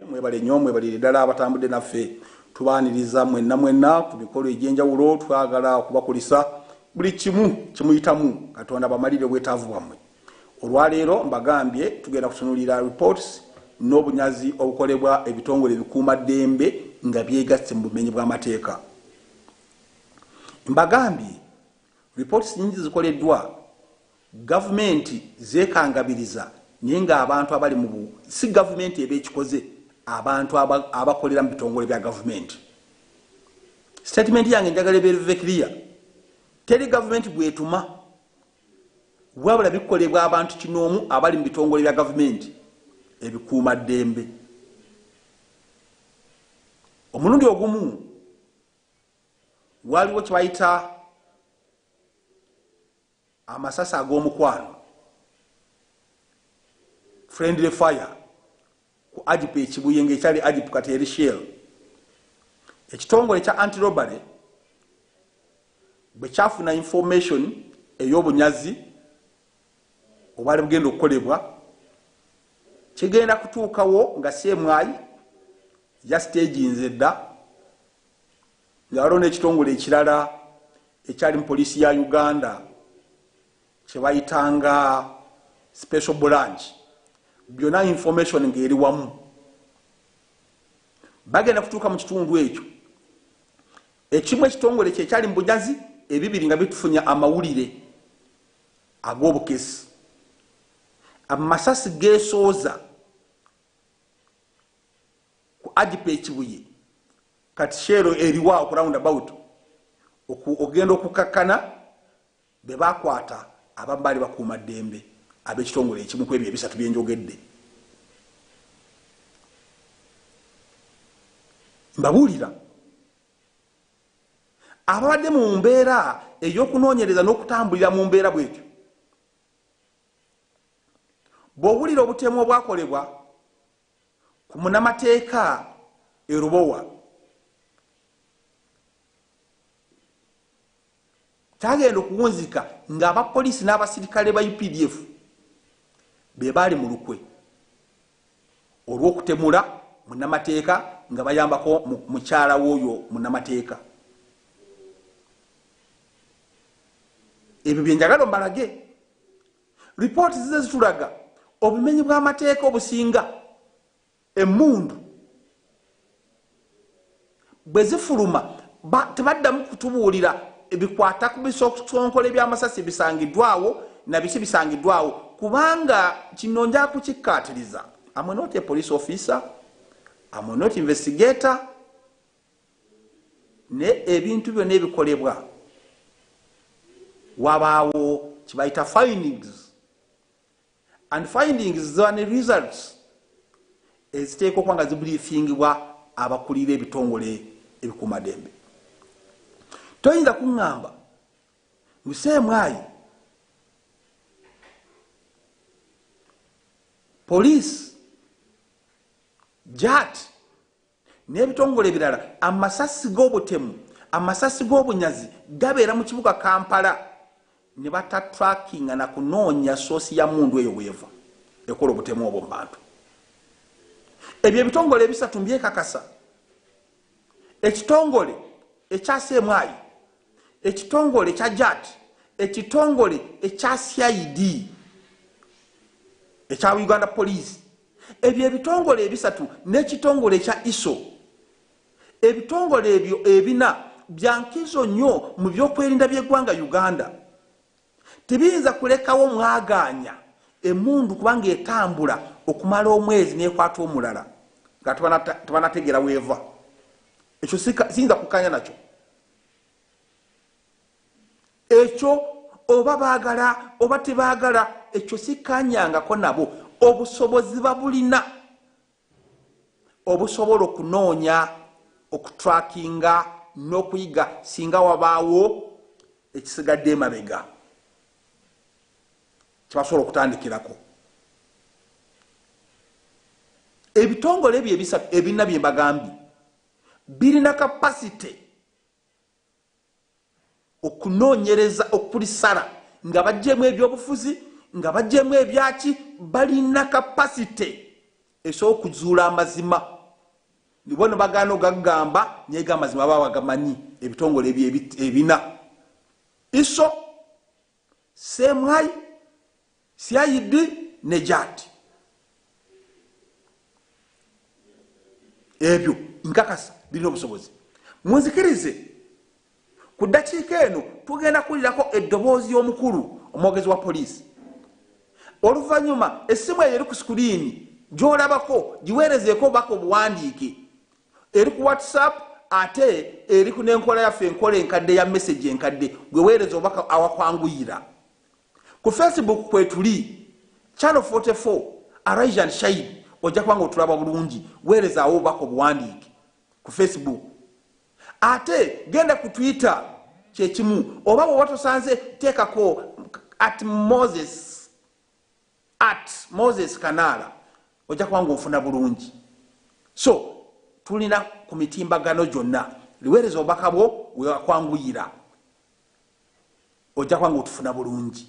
Mwebale nyo mwebalire dala abatambudde naffe. Tubaniriza mwenna mwenna ku mikolo egyenjawulo twagala okubakulisa buli kimu kyemuyitamu katonda abamalire obwetaavu bwamwe. Olwaleero mbagambye tugenda kutunulira reports n'obunyazi obukolebwa ebitongole ebikuuma ddembe nga byegasse mu bumenyi bw'amateeka. Mbagambye reports nyingi zikoleddwa. Gavumenti zekangabiriza naye nga abantu abali mu bu si gavumenti eba ekikoze abantu aba abakolera mu bitongole bya gavumenti. Statement yange njagala ebeere ve clear. Teri gavumenti gwetuma wabula bikolebwa abantu kinoomu abali mu bitongole bya gavumenti ebikuuma ddembe. Omulundi ogumu waliwo kye bayita amasasi ag'omukwano friendly fire ku ajip ekibuye ngaekyali ajip kati eri shell ekitongole kya antirobale bwe kyafuna information ey'obunyazi obwali bugenda okukolebwa kigenda kutuukawo nga semwayi yasiteginze dda nga waliwo n'ekitongole ekirala ekyali mu poliisi ya uganda kyebayitanga special branch byonna information ng'eri wamu bagenda kutuuka mu kitundu ekyo ekimu ekitongole kyekyali mu bujazi ebibiri nga bitufunya amawulire ag'obukesi amasasi gesooza ku agipa ekibuye kati sheero eriwa oku round about oku ogenda okukakkana be bakwata abamu baali bakuuma ddembe ab'ekitongole ekimu ku ebyo ebisatu bye njogedde mbabuulira ababadde mu mbeera ey'okunoonyereza n'okutambulira mu mbeera bwetyo bw'owulira obutemu obwakolebwa ku munamateeka e Lubowa kyagenda okuwunzika ng'abapoliisi n'abasirikale ba updf be baali mu lukwe olw'okutemula munamateeka nga bayambako mukyala w'oyo munamateeka ebyo bye njagala mbalage Lipooti zizze zitulaga obumenyi bw'amateeka obusinga emmundu bwe zifuluma tebaddamu kutubuulira ebikwata ku bisonkola eby'amasasi bisangiddwawo na biki bisangiddwawo kubanga kino nja kukikkaatiriza amwenoti e police officer amwenoti investigator naye ebintu byona ebikolebwa wabaawo kibayita findings and findings ziba ne results eziteekwa okuba nga zibriefingibwa abakulira ebitongole ebikuumadembe toyinza kuŋŋamba museemwayi poliisi jati n'ebitongole ebirala amasasi g'obutemu amasasi g'obunyazi gabeera mu kibuga Kampala ne batatrakinga na kunoonya soosi ya mmundu eyo weeva ekola obutemu obwo mu bantu. Ebyo ebitongole ebisatu mbyekakasa. Ekitongole ekya Semwayi, ekitongole ekya JAT, ekitongole ekya CID ekya Uganda Police Ebyo ebitongole ebisatu n'ekitongole ekya ISO, ebitongole ebyo ebina bya nkizo nnyo mu byokwerinda by'eggwanga Uganda. Tebiyinza kulekawo mwagaanya emmundu kuba ng'etambula okumala omwezi n'ekwata omulala nga tebanategeera w'eva. Ekyo siyinza kukkaanya nakyo. ekyo oba baagala oba tebaagala ekyo sikkanyangako nabo obusobozi babulina obusobola okunoonya okutrakinga n'okuyiga singa wabaawo ekisigadde emabega kyebasobola okutandikirako ebitongole ebyo ebisatu ebina bye bagambye birina kapasite okunoonyereza okulisala nga bajjemu ebyobufuzi nga bajjemu ebyaki balina kapasite esobola okuzuula amazima nibo no bagaana ogagamba naye gamazima baba bagamanyi ebitongole ebina iso Same high, CID, Nejat. Ebyo, nkakasa, bino obusobozi. Munzikirize, ku dakiika eno, tugenda kulirako eddoboozi y'omukulu, omwogezi wa poliisi. Oluvanyuma, essimu eyo eri ku sikuriini, gyolabako, giweerezeeko obubaka obuwandiike. Eri ku WhatsApp ate eri ku n'enkola yaffe enkola enkadde ya message enkadde gwe weereza obubaka awakwanguyira. Ku Facebook kwetuli, Channel 44, Arise and Shine ojja kuba nga otulaba bulungi, weerezaawo obubaka obuwandiike ku Facebook. Ate genda ku Twitter kye kimu oba bw'oba tosanze teekako at Moses. At moses kanaala ojja kuba nga ofuna bulungi so tulina ku mitimbagano gyonna liweereza obubaka bwo wewakwanguyira ojja kuba nga otufuna bulungi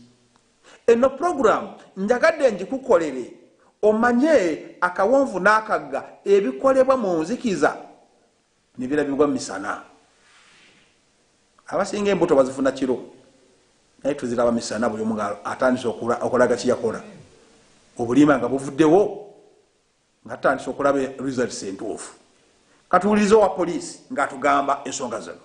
eno puroguramu njagadde ngikukolere omanye akawonvu n'akagga ebikolebwa mu nzikiza nebirabibwa misana abasinga embuto bazifuna kiro naye tuziraba misana buli omu atandise okulaga kiyakola obulima nga buvuddewo nga tutandise okulaba results entuufu katuwuliriza owa poliisi ngaatugamba ensonga zino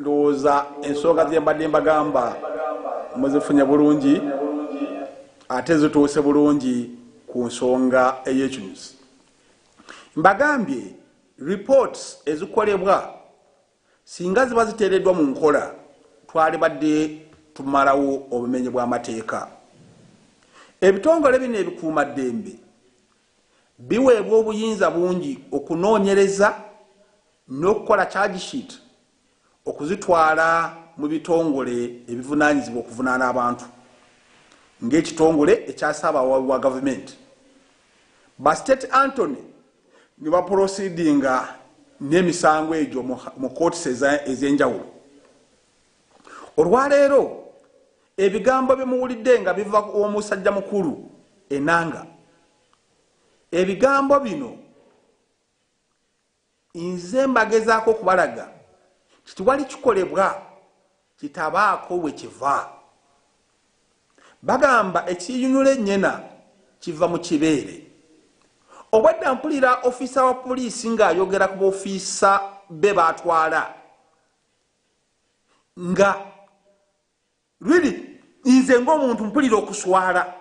ndowooza ensonga ze mbadde mbagamba muzifunye bulungi ate zituuse bulungi ku nsonga ey'ekinyusi mbagambye reports ezikolebwa singa ziba ziteereddwa mu nkola twalibadde tumalawo obumenyi bw'amateeka ebitongole bino ebikuuma ddembe biweebwa obuyinza bungi okunoonyereza n'okukola charge sheet okuzitwala mu bitongole ebivunaanyizibwa okuvunaana abantu ng'ekitongole ekya ssaabawaabi wa gavumenti ba state antony ne bapolosidinga n'emisango egyo mu kootisi ez'enjawulo olwaleero Ebigambo bye muwulidde nga biva w'omusajja mukulu Enanga, ebigambo bino nze mbagezaako okubalaga nti tewali kikolebwa kitabaako we kiva. Bagamba ekiyinula ennyena kiva mu kibeere. Obwedda mpulira ofiisa wa poliisi ng'ayogera ku bofiisa be baatwala nga really nze ngaomuntu mpulira okuswala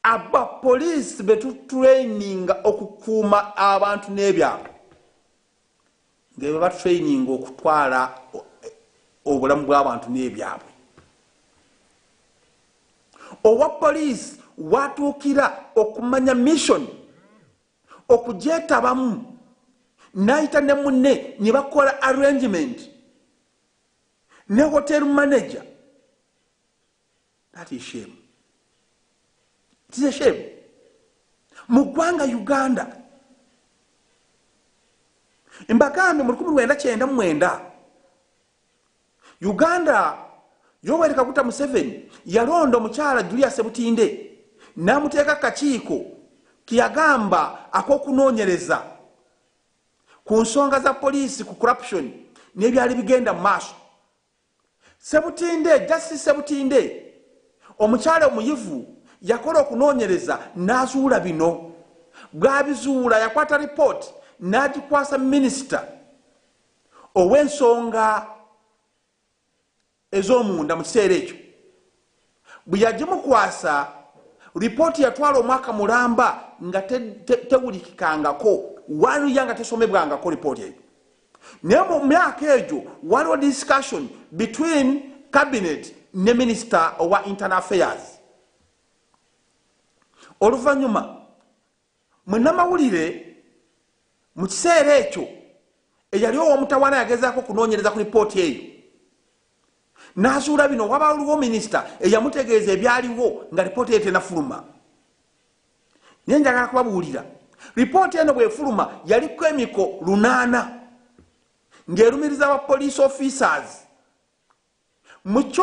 aba poliisi betutraininga okukuuma abantu n'ebyalo ngebe batraininga okutwala obulamu bw'abantu n'ebyabwe owa poliisi watuukira okumanya missioni okugyetabamu n'ayita ne munne ne bakola arrangement ne hotel manager that is shame it is a shame mu ggwanga uganda embagambye mu 1999 Uganda Yoweri Kaguta Museveni yalonda omukyala Julia Sebutinde n'amuteeka kakiiko ke yagamba ak'okunoonyereza ku nsonga za poliisi ku corruption n'ebyali bigenda mu maaso. Sebutinde, Justice Sebutinde, omukyala omuyivu yakola okunoonyereza n'azuula bino. Bw'abizuula yakwata lipooti n'agikwasa minisita. ow'ensonga ez'omunda mu kiseera ekyo bwe yagimukwasa lipooti yatwala omwaka mulamba nga tewulikikangako waliya nga tesomebwangako lipooti eyo naye mu myaka egyo waliwo discussion between cabinet ne minister owa internal affairs oluvannyuma Munnamawulire mu kiseera ekyo eyali ow'omutawaana yagezaako okunoonyereza ku lipooti eyo n'azuula bino, Wabaluwo minisita eyamutegeeza ebyaliwo nga lipooti eyo tenafuluma. Naye njagala kubabuulira, lipooti eno bw'efuluma yaliko emiko lunaana ng'erumiriza ba poliisi officers Muky.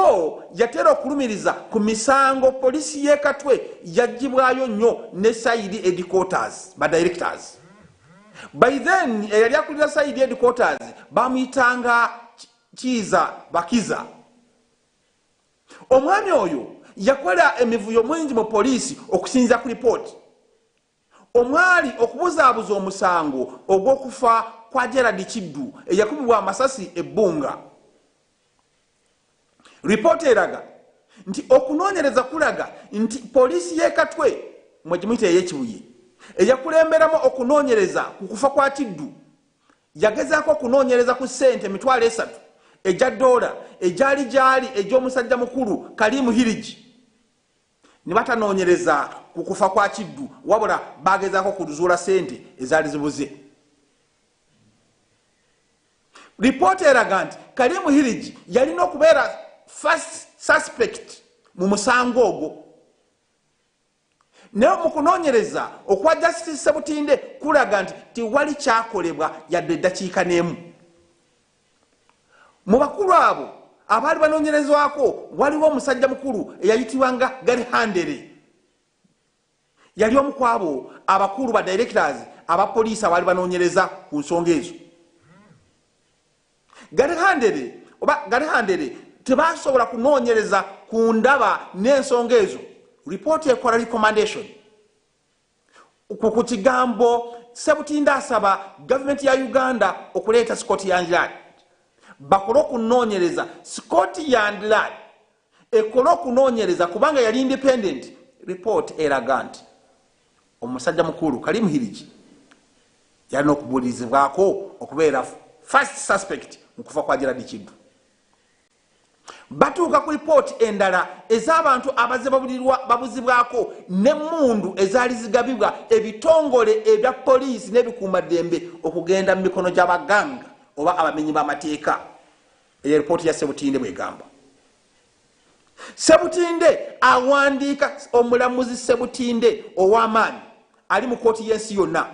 Yatera okulumiriza ku misango poliisi y'e Katwe gy'aggyibwayo nnyo ne Side Headquarters, ba Directors. By then eyali akulira Side Headquarters baamuyitanga Kiiza Bakiza. Omwami oyo yakola emivuyo mingi mu poliisi okusinziira ku lipooti. omwali okubuzaabuza omusango ogw'okufa kwa Gerald Kiddu eyakubibwa amasasi e Bbunga. Lipoota eraga nti okunoonyereza kulaga nti poliisi y'e Katwe mwe gimuyita ey'e Kibuye eyakulemberamu okunoonyereza ku kufa kwa Kiddu yagezaako okunoonyereza ku ssente emitwalo esatu egya ddoola egyali gyali egy'omusajja mukulu Karim Hirigi. ne batanoonyereza ku kufa kwa kiddu wabula baagezaako kuzuula ssente ezaali zibuze lipoota eraga nti kalimu hirigi yalina okubeera first suspect mu musango ogwo naye mu kunoonyereza okwa justice sebutinde kulaga nti tewali kyakolebwa yadde eddakiika n'emu Mu bakulu abo abaali banoonyerezwako waliwo omusajja mukulu eyayitibwanga Gary Handley. Yali omu ku abo abakulu ba directors aba poliisi abaali banoonyereza ku nsonga ezo. Gary Handley oba Gary Handley tebaasobola kunoonyereza ku ndaba n'ensonga ezo. Report ekola recommendation. ku ku kigambo Sebutinde asaba gavumenti ya Uganda okuleeta Scott Yandlad bakole okunoonyereza Scott Yandlad ekole okunoonyereza kubanga yali independent report eraga nti omusajja mukulu Karim Hirigi yalina okubuulirizibwako okubeera first suspect mu kufa kwa Gerald Kiddu. batuuka ku lipooti endala ez'abantu abazze babuzibwako n'emmundu ezaali zigabibwa ebitongole ebya poliisi n'ebikuumaddembe okugenda mu mikono gy'abaganga oba abamenyi b'amateeka eyo lipooti ya sebutinde bwegamba sebutinde awandiika omulamuzi sebutinde ow'amaanyi ali mu kooti y'ensi yonna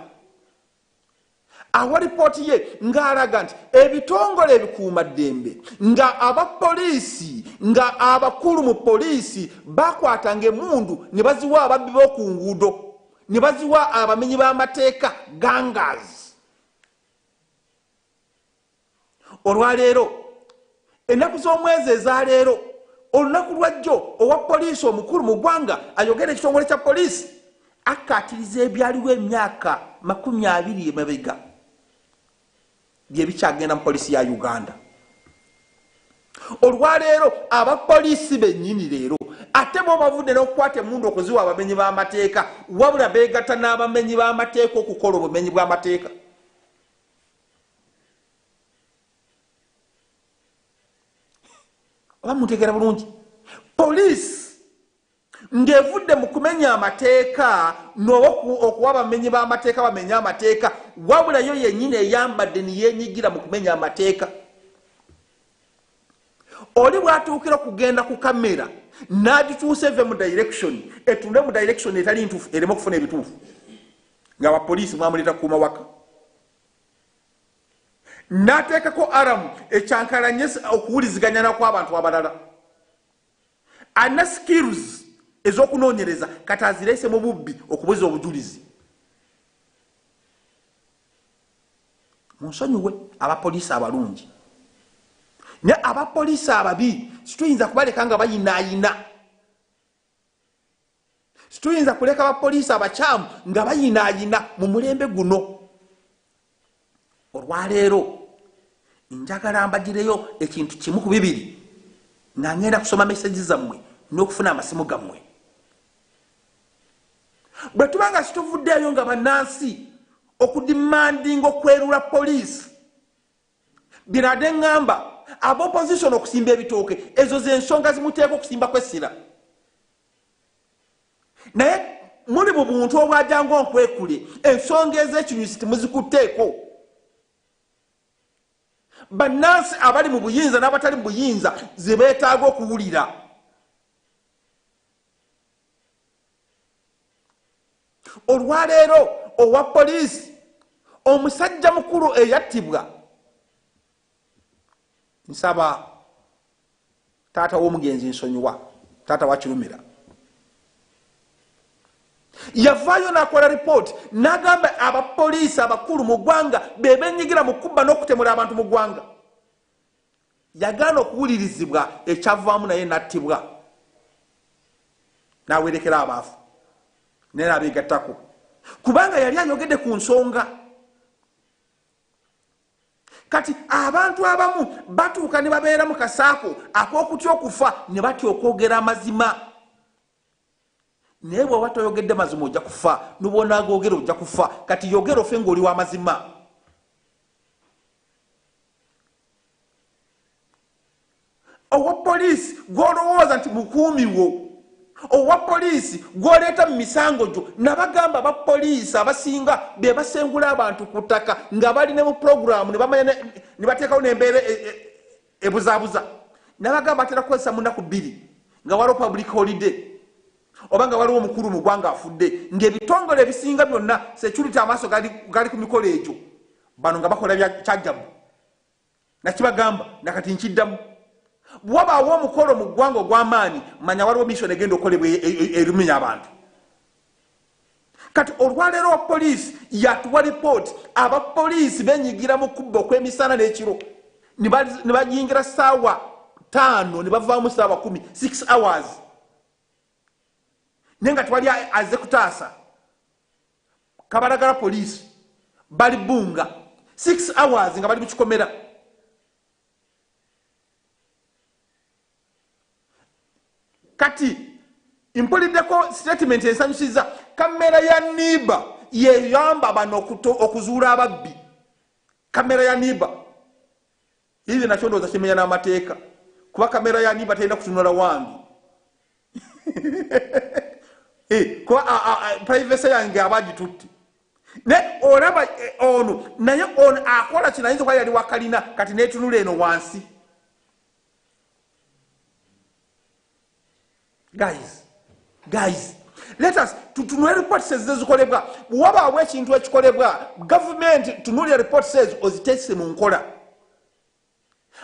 awa lipooti ye ng'alaga nti ebitongole ebikuuma ddembe nga aba poliisi nga abakulu mu poliisi bakwatanga emundu ne baziwa ababbi b'oku nguudo ne baziwa abamenyi b'amateeka gangas olwaleero ennaku z'omwezi ezaleero olunaku lwajjo owa poliisi omukulu mu ggwanga ayogera ekitongole kya poliisi akkaatiriza ebyaliwo emyaka makumi abiri emabega byebikyagenda mu poliisi ya uganda olwaleero abapoliisi bennyini leero ate bo bavudde n'okukwata emundu okuziwa abamenyi b'amateeka wabula beegatta n'abamenyi b'amateeka okukola obumenyi bw'amateeka oba mutegeera bulungi poliisi ng'evudde mu kumenya amateeka nookuwa abamenyi b'amateeka bamenye amateeka wabula yo yennyini eyambadde niyeenyigira mu kumenya amateeka oli bwatuukira okugenda ku kamera n'agituusa eve mu direction etunde mu direction etali ntuufu ereme okufuna ebituufu ng'abapoliisi mwamuleeta kukuuma waka n'ateekako aramu ekyankalanye okuwuliziganya nakw'abantu abalala alina skills ez'okunoonyereza kati azireese mu bubbi okubuza obujulizi munsonyiwe abapoliisi abalungi naye abapoliisi ababi situyinza kubaleka nga bayinaayina Situyinza kuleka bapoliisi abakyamu nga bayinaayina mu mulembe guno. Olwaleero njagala mbagireyo ekintu kimu ku bibiri nga ngenda kusoma mesegi zammwe n'okufuna amasimu gammwe. Bwe tuba nga situvuddeeyo nga bannansi okudimandinga okwerula poliisi binade ngamba aba opposition okusimba ebitooke ezo zensonga zimuteeka okusimba kwessira naye muli mu buntu obwajanga onkwekule ensonga ezekinyusi timuzikutteeko bannansi abali mu buyinza n'abatali mu buyinza ze beetaaga okuwulira olwaleero owa poliisi omusajja mukulu eyattibwa nsaba taata w'omugenzi nsonyiwa taata wakirumira yavaayo nakola ripooti nagamba abapoliisi abakulu mu ggwanga bebenyigira mu kubba n'okutemula abantu mu ggwanga Yagaana okuwulirizibwa ekyavaamu naye n'attibwa n'awerekera abaavu naye n'abeegattako kubanga yali ayogedde ku nsonga kati abantu abamu batuuka ne babeera mu kasaako ak'okutya okufa ne batya okwogera amazima naye bwaba toyogedde mazima ojja kufa nubwonagoogera ojja kufa kati yogera ofe ngaoli wa mazima owa poliisi gwolowooza nti mukuumi wo owa poliisi gwoleeta mu misango gyo nabagamba ba poliisi abasinga be basengula abantu ku ttaka nga bali ne mu pulogulaamu ne bateekawo nembeera e, e, ebuzabuza nabagamba atera kukozesa munaku bbiri nga waliwo public holiday oba nga waliwo omukulu mu gwanga afudde ngaebitongole ebisinga byonna security amaaso gali ku mikolo egyo bano nga bakola kyajabu nakibagamba nakati nkiddamu bwewabaawo omukolo mu ggwanga ogw'amaanyi manya waliwo misoni egenda okukolebwa e, e, e, erumenya abantu Kati olwaleero wa poliisi yatuwa lipooti aba poliisi benyigira mu kubba okwemisana n'ekiro ne bayingira ssaawa taano ne bavaamu ssaawa kumi six hours naye nga tewali aze kutaasa kabalagala poliisi bali bunga six hours nga bali mukikomera kati mpuliddeko statement ensanyusiza kamera ya niba yeyamba bano okuzuula ababbi kamera ya niba ize nakyo ndowooza kimenya n'amateeka kuba kamera ya niba terina kutunula wange eh, kuba privacy yange aba agitutte naye olaba eh, ono naye ono akola kinayinza okuba yali wakalina kati netunula eno wansi guys guys let us tutunule reports ezikolebwa bwewabaawo ekintu ekikolebwa gavumenti tunulya reports ezo oziteese mu nkola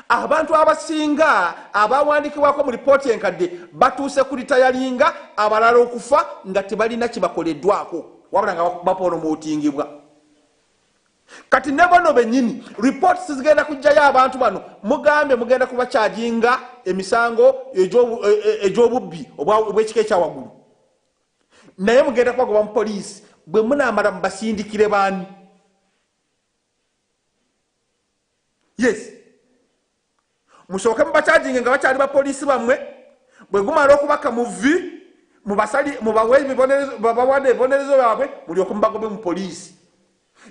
abantu abasinga abawandikibwako mu lipooti enkadde batuuse ku litayalinga abalala okufa nga tebalina kibakoleddwako wabula nga bapolomootingibwa kati nebono benyini reports zigenda kujjayo abantu bano mugambye mugenda kubakyajinga emisango egyobubbi e, e, obwekika ekyawaggulu naye mugenda kubagoba mu poliisi bwe munamala mubasindikire baani yes musooke mubakyajinge nga bakyali bapoliisi bammwe bwe gumala okubaka mu vi mubawabawaana ebibonerezo byabwe mulyoke mubagobe mu poliisi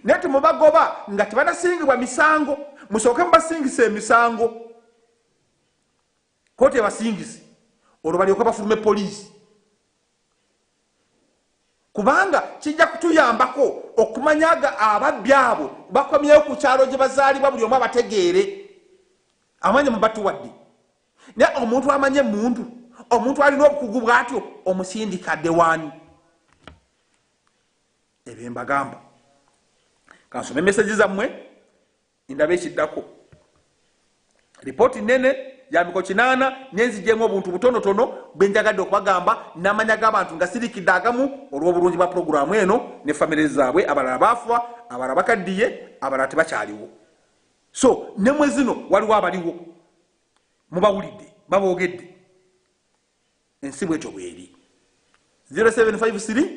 naye temubagoba nga tebanasingibwa misango musooke mubasingisa emisango kooti ebasingise olwo balyoke bafulume poliisi kubanga kijja kutuyambako okumanya ga ababbi abo bakomyewo ku kyalo gye bazaalibwa buli omu abategeere amanya mubatuwadde naye omuntu amanye emundu omuntu alina obukugu bwatyo omusindika ddewaani ebyo mbagamba kansome meseji zammwe Ndaba ekiddako. Lipooti nnene ya miko kinaana naye nzigyemu obuntu butonotono bwe njagadde okubagamba n'amanya g'abantu nga sirikidde agamu olw'obulungi bwa pulogulaamu eno ne famire zaabwe abalala baafuwa abalala bakaddiye abalala tebakyaliwo so ne mwe zino waliwo abaliwo mubawulidde baboogedde ensi bwetyo bweri 0753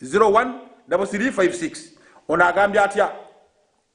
01 356 ono agambye atya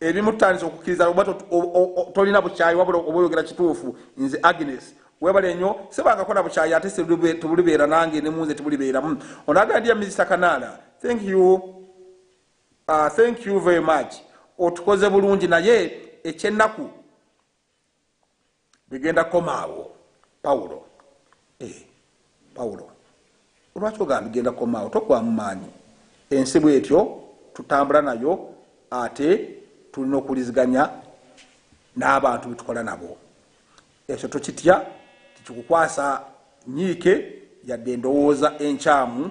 ebimu tutandise okukkiriza oba tolina bukyayi wabula oba oyogera kituufu nze agnes webale nyo sebangako na bukyayi ate tebulibeera nange ne munze tebulibeeramu onagala ndiya minisita kanaala thank you uh, thank you very much otukoze bulungi naye ekyennaku bigenda kukoma awo pawulo eh, pawulo olwaki ogamba bigenda kukoma awo tokwamu maanyi ensi bwetyo tutambula nayo ate tulina okuliziganya n'abantu betukola nabo ekyo tokitya tikikukwasa nyiike yadde endowooza enkyamu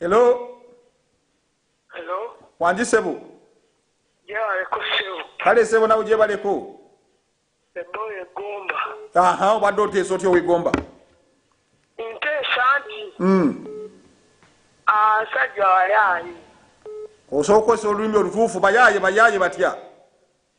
Hello. Hello. Wanji sebo. Jebale ko sebo. Kale sebo nawe jebale ko. Sebo ye gomba. Aha, obadde oteesa otya owegomba? Nteesa nti. Mm. Asajja wayaaye. Osooka okozesa olulimi olutuufu bayaaye bayaaye batya?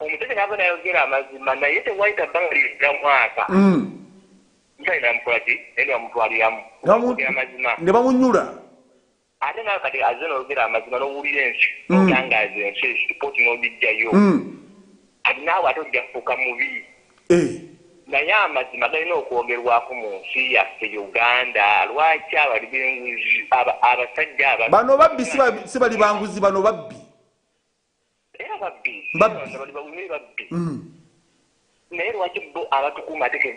Omuseveni aba nayogera amazima naye tewayita bbanga liwera mwaka hmm. museveni namukolaki naye nebamutwaliramu ogera amazima ne bamunyula ate nawe kati aze noyogera amazima nowulira ensi hmm. otangaza ensi ripooti nogijjayo hmm. kati naawe ate ojja kufuuka mubi eh. naye amazima galina okwogerwako mu nsi yaffe uganda lwaki abali benguzi abasajja bano babbi si bali banguzi bano babbi Era babbi. Babbi. Bano bawume babbi. Mm. Naye lwaki bo abatukuuma ate ke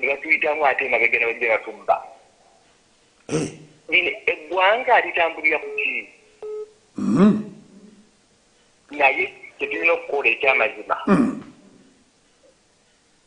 bebatuyitamu ate emabega nebajja batubba. Eh. Lino eggwanga litambulira ku ki? Mm. Naye kyetulina okukola ekyamazima. Mm.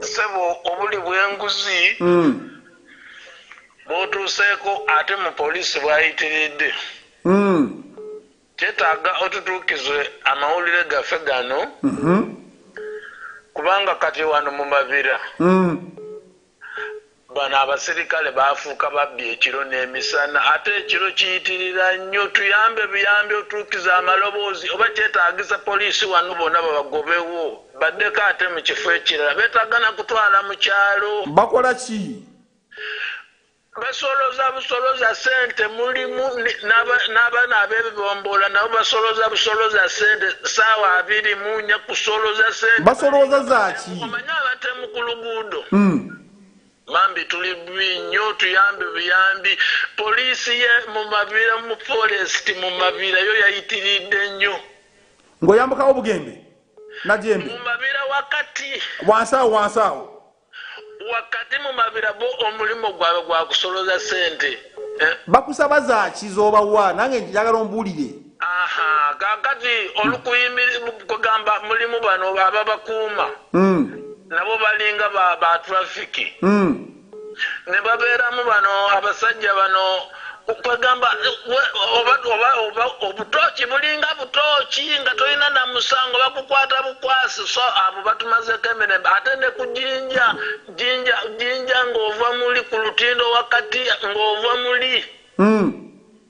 Ssebo obuli bwenguzi mm. bwotuuseeko ate mu poliisi bwayitiridde mm. kyetaaga otutuukize amawulire gaffe gano mm -hmm. kubanga kati wano mu mabira mm. Bano abaserikale baafuuka babbi ekiro n'emisana ate ekiro kiyitirira nnyo. Tuyambe buyambi otuukize amaloboozi oba kyetaagisa poliisi wano bonna babagobewo baddeko ate mu kifo ekirala. Beetaaga na kutwala mu kyalo. Bakola ki? Basolooza busolooza ssente. Mulimu n'abaana ab'ebibomboola nabo basolooza busolooza ssente ssaawa abiri mu nnya kusolooza ssente. Basolooza za ki? Omanyi abatemu ku luguudo. Bambi tuli bubi nnyo tuyambe buyambi police ye mumabira mu forest mumabira yo yayitiridde nnyo ngoyambukawo bugembe najembe mumabira wakati wansi awo wansi awo wakati mumabira bo omulimu gwabwe gwakusoloza sente eh? bakusaba zaki zobawa nange njagala ombuulire Aha, kakati olukuyimiri kugamba mulimu bano ababakuuma mm. nabo balinga ba, ba trafiki mm. ne babeeramu bano abasajja bano kwegamba obutooki bulinga butooki nga tolina na musango bakukwata bukwasi so abo batumazeko emirembe ate ne ku jinja jinja jinja ng'ova muli ku lutindo wakati ng'ova muli mm.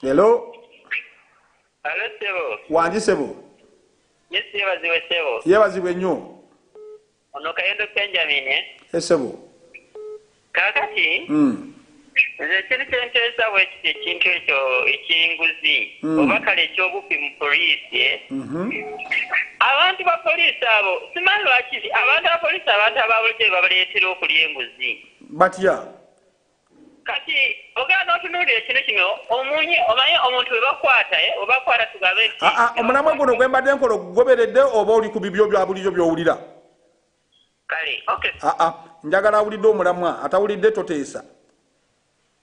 Hello. Hello sebo. Wanji sebo. Yes yebazibwe sebo. Yebazibwe nnyo. Ono kayendo Benjamin eh? Yes sebo. Kakati. Mm. Nze ekintu kyenteesa bwe kiti ekintu ekyo eky'enguzi mm. oba kale eky'obubbi mu poliisi eh? mm-hmm. abantu ba poliisi abo simanyi lwaki abantu ba poliisi abantu ababulijjo bebabaleetera okulya enguzi batya kati ogenda notunuulira ekino kino omunye omanye omuntu webakwata eh, webakwata tugabe nti ah, ah, omulamwe guno gwembadde nkola ogugoberedde oba oli ku bibyo bya bulijo byowulira kale ah, njagala awulidde omulamwa atawulidde toteesa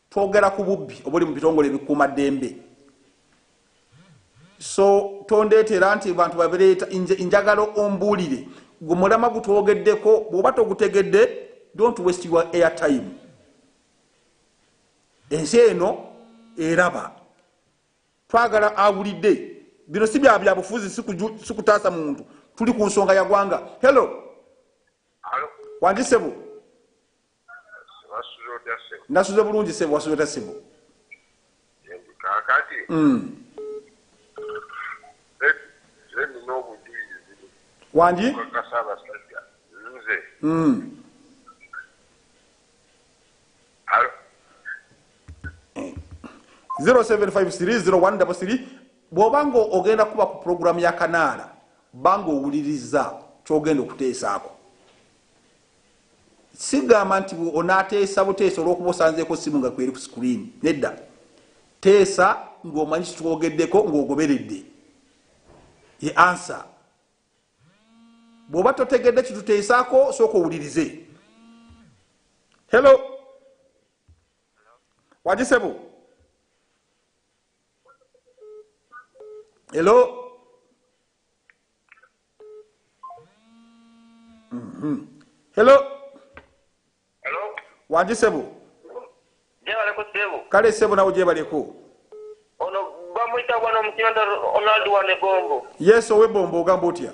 Twogera ku bubbi obuli mu bitongole ebikuuma ddembe. So tondeetera nti abantu babireeta. Nze njagala ombuulire gwe mulamwa gutwogeddeko. Bw'oba togutegedde, don't waste your air time. Ensi eno eraba. Twagala awulidde. Bino si bya byabufuzi, si kutaasa muntu. Tuli ku nsonga ya gwanga. Hello. Wandisebo. Wasuze otya ssebo? Nasuze bulungi ssebo, wasuze otya ssebo? Yendi kaakati. Mm. Nze nina obujulizi. Wangi? Okakasa abasajja. Nze. Mm. Alo. 07530133 eh. bw'oba nga ogenda kuba ku pulogulaamu ya kanaala banga owuliriza ky'ogenda okuteesaako sigamba nti onateesa buteesa olwokuba osanzeeko simu nga kweri ku screen nedda teesa ngaomanyi kitwogeddeko ngaogoberedde ye ansa bwoba totegedde kituteesaako sooka owulirize hello wagisebo hello Mhm. Hello. Hello. Wangi sebo. Jebale ko sebo. Kale sebo nawe jebale ko. Ono bamwita bwana mukiranda Ronald wa Negombo. Yes owe bombo ogamba otya?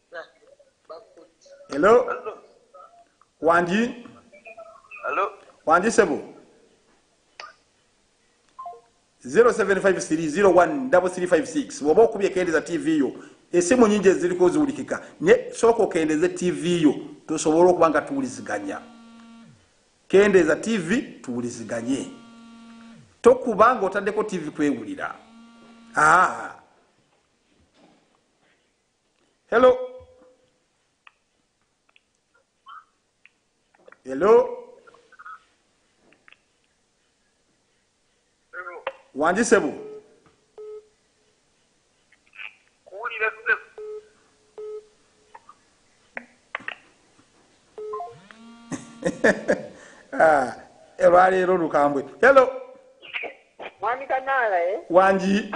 hello wangi hello wangi sebo 0753013356 woba okubye kendeza tv yo esimu nyingi eziriko ziwulikika ne soko kendeze tv yo tusobole okuba nga tuwuliziganya kendeza tv tuwuliziganye tokuba nga otaddeko tv kwewulira aa ah. Hello. Hello. Wanji sebu. Ah, olwaleero lukambwe hello mwami kanaala eh? wangi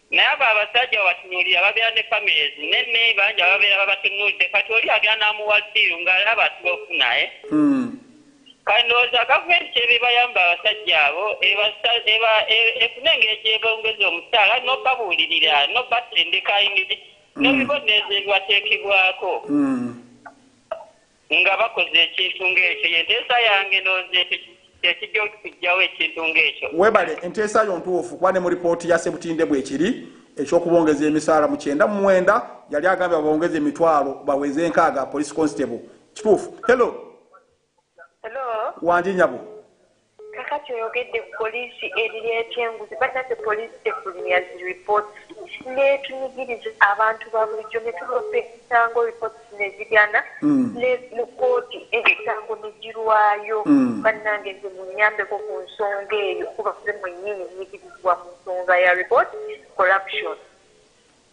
Naye abo abasajja babatunulira babera ne families nene bangi ababera babatunudde kati oli agera namuwa deal nga alaba asiba okufuna eh? Hmm. Kati ndowooza gavumenti kyebebayamba abasajja abo efune engeri gyebongeza omusaala nobabuulirira nobatendeka engeri hmm. nobibonerezo ebibateekebwako. Hmm. Nga bakoze ekintu ng'ekyo, ye nteesa yange ndowooza ekyo kye kijja okuggyawo ekintu ng'ekyo. Weebale, enteesa yo ntuufu, kuba ne mu lipooti ya Sebutinde bwekiri, eky'okubongeza emisaala mu kyenda mu mwenda yali agambye babongeze emitwalo baweze enkaaga, police constable. Kituufu? Hello. Hello. Wangi nyabo. Kakati oyogedde ku police ebiri etya enguzi banange police tefulumya zi reports netunyigiriza abantu babulijjo netulopa emisango reports nezigana ne mu kooti emisango negirwayo banange nze munyambeko ku nsonga eyo kuba nze mwenyini nyigirizibwa mu nsonga ya report corruption.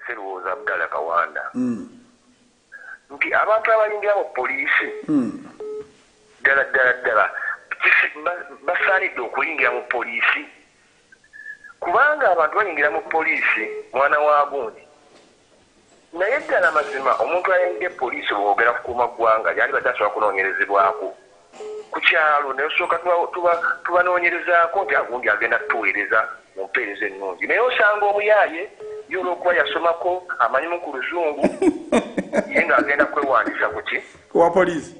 Sseruwooza Abdallah Kawanda nti abantu abayingira mu poliisi ddala ddala ddala basaanidde okuyingira mu poliisi kubanga abantu bayingira mu poliisi mwana wa gundi naye ddala mazima omuntu ayingidde poliisi bw'oyogera kukuuma ggwanga yandibadde asobola kunoonyerezebwako. ku kyalo ne tusooka tubanoonyerezaako nti agundi agenda kutuweereza mu mpeereza ennungi naye osanga omuyaaye ye olw'okuba yasomako amanyimu ku luzungu ye ng'agenda kwewandiisa ku ki ku wa poliisi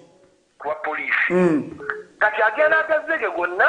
ku wa poliisi hmm. kati agenda agazege gonna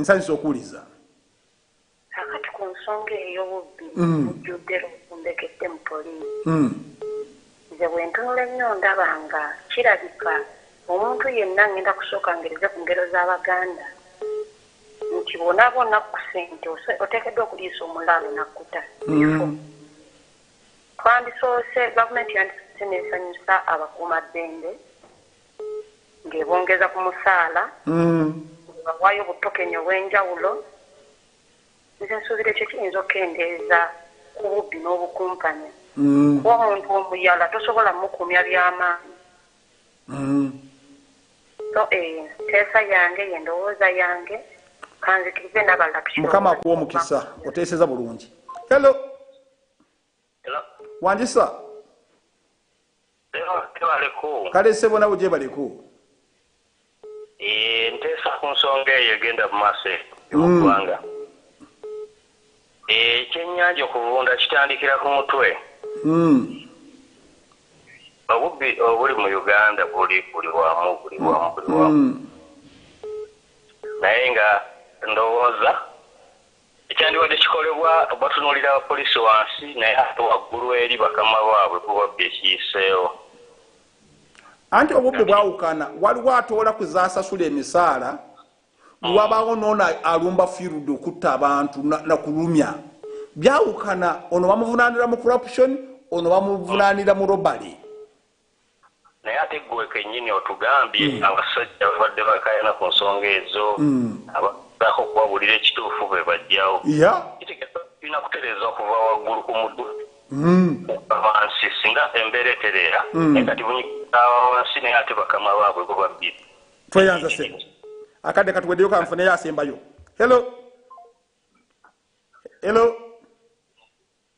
nsanyusa okuwuliza kakati ku nsonga ey'obubbi mm. mujjudde lwombekedde mu poliisi mm. nze bwentunula ennyo ndaba nga kirabika omuntu yenna ngenda kusooka ngereze ku ngero z'abaganda nti bona bona ku sente oteekeddwa okuliisa omulaalo nakkuta mm. twandisoose gavumenti yandisoose nesanyusa abakuuma ddembe ng'ebongeza ku musaala ng'ebawaayo obutokeni obw'enjawulo nze nsuubira ekyo kiyinza okukendeeza ku bubbi n'obukumpanya kuba omuntu omuyala tosobola mukumya byamaanyi so eyo nteesa yange ye ndowooza yange kanzikirize nabalala mukama akuwa omukisa oteeseza bulungi hello wanjisa kale sebo nawe gyebaleko eh, nteesa ku nsonga eyo egenda mu maaso eyoggwanga mm. ekyennyanja eh, okuvunda kitandikira ku mutwe mm. obubbi obuli mu uganda buli buli wamu buli wamu buli wamu mm. naye nga ndowooza Ekyandibadde kikolebwa batunuulira abapoliisi wansi naye ate waggulu eri bakama baabwe ku bubbi ekiyiseewo. Anti obubbi bwawukana, waliwo atoola ku z'asasula emisaala, ne hmm. wabaawo n'ono alumba field okutta abantu na kulumya. Byawukana, ono bamuvunaanira mu corruption, ono bamuvunaanira mu robbery. Naye ate gwe kenyini otugambye abasajja babadde bakayana ku nsonga ezo abagezako okubabulira ekituufu bebajjawo kitegeza tulina kutereza kuva waggulu ku mutwe kukka wansi singa embeera etereera naye kati bunyikiza abawansi naye ate bakama baabwe bo babbira tweyanza ssebo akadde katuweddeyo kanfuneyo asembayo hello hello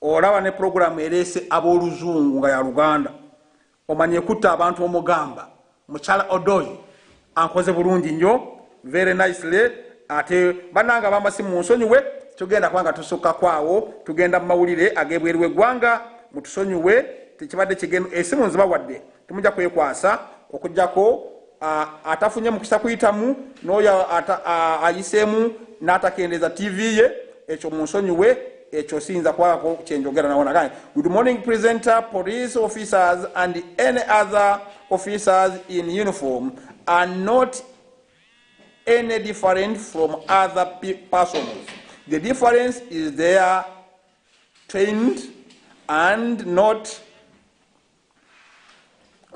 Olaba ne program eleese aboluzungu nga ya luganda omanyi ekutta abantu omugamba mukyala odoi ankoze bulungi nyo very nicely ate bananga bamasi munsonyiwe tugenda kuba nga tusukkako awo tugenda mu mawulire agebweru wegwanga mutusonyiwe tekibadde kigenu esimu nziba wadde Temujja kwekwasa okujjako atafunye mukisa kuyitamu n'oyo ayiseemu n'atakendeeza TV ye ekyo munsonyiwe ekyo siyinza kwako kyenjogera nawonagane good morning presenter police officers and any other officers in uniform are not any different from other persons the difference is their trained and not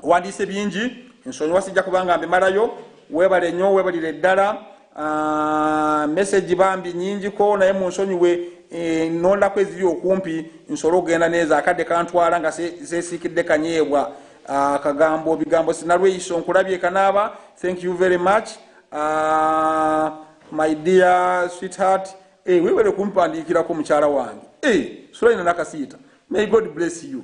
owandiise bingi nsonyiwa sijja kubanga mbimalayo webale nyo webalire ddala ah, meseji bambi nyingiko naye munsonyiwe eh, nondako eziri okumpi nsobole okugenda neeza akadde kantwala nga zesiikidde kanyeebwa ah, kagambo bigambo sinalweyiso nkulabye kanaaba thank you very much ah, my dear sweetheart eh, webale kumpandiikirako mukyala wange eh, sulaina nakasiita may god bless you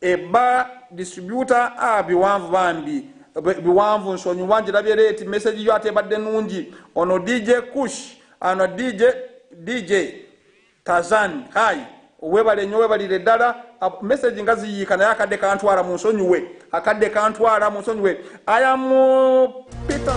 Ebba distributor a ah, biwanvu bambi biwanvu nsonyiwa njirabye leeti message yo atebadde nungi ono dj kush ano dj dj tazan hai webale nyo webalire ddala message nga ziyiika naye akadde kantwala mu nsonyiwe akadde kantwala mu nsonyiwe ayamu peter